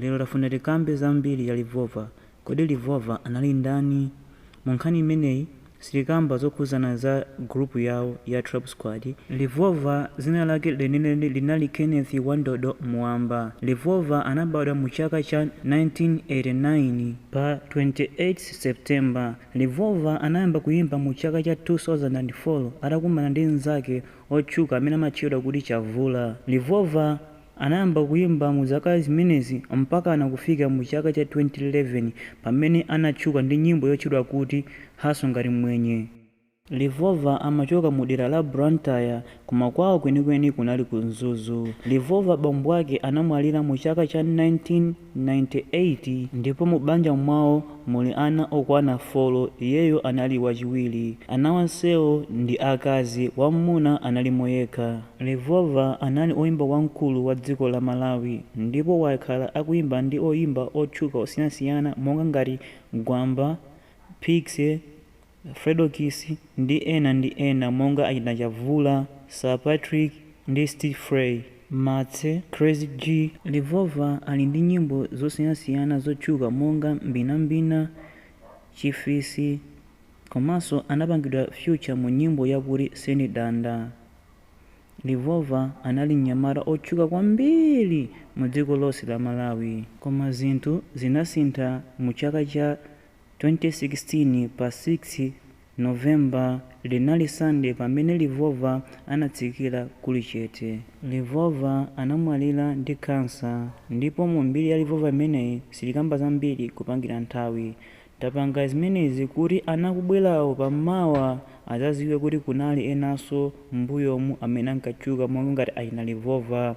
Lero tafuna tikambe za mbiri ya Revolver. Kodi Revolver anali ndani? Mu nkhani imeneyi sitikamba zokhuzana za group yawo ya Trap Squad. Revolver zina lake lenileni linali Kenneth Wandodo Muwamba. Revolver anabadwa mu chaka cha 1989 pa 28 September. Revolver anayamba kuyimba mu chaka cha 2004 atakumana ndi mnzake otchuka amene amatchedwa kuti Chavura. Revolver anayamba kuyimba mu zaka zimenezi mpakana kufika mu chaka cha 2011 pamene anatchuka ndi nyimbo yotchedwa kuti Hustle Ngati Mmwenye. Revolver amachoka mu dera la Blantyre koma kwawo kwenikweni kunali ku Mzuzu. Revolver bambo ake anamwalira mu chaka cha 19. 98 ndipo mu banja mwawo muli ana okwana folo iyeyo anali wachiwiri. Ana onsewo ndi akazi, wammuna analimo yekha. Revolver anali oyimba wamkulu wa dziko la Malawi ndipo wakhala akuyimba ndi oyimba otchuka osiyansiyana monga ngati Gwamba, Piksy, Fredokiss ndi ena ndi ena monga achina Chavura, Sir Patrick ndi Steve Fray, Martse, Crazy G, Revolver ali ndi nyimbo zosiyanasiyana zotchuka monga Mbinambina, Chifisi komanso anapangidwa feature mu nyimbo yakuti Sindidanda. Revolver anali mnyamata otchuka kwambiri mu dziko lonse la Malawi. Koma zinthu zinasintha mu chaka cha 2016 pa 6 November linali Sunday pamene Revolver anatsikira kuli chete. Revolver anamwalira ndi cancer ndipo mu mbiri ya Revolver imeneyi sitikamba zambiri kupangira nthawi. Tapanga zimenezi kuti ana akubwerawo pa mawa azaziwe kuti kunali enaso m'mbuyomu amene ankatchuka monga ngati achina Revolver.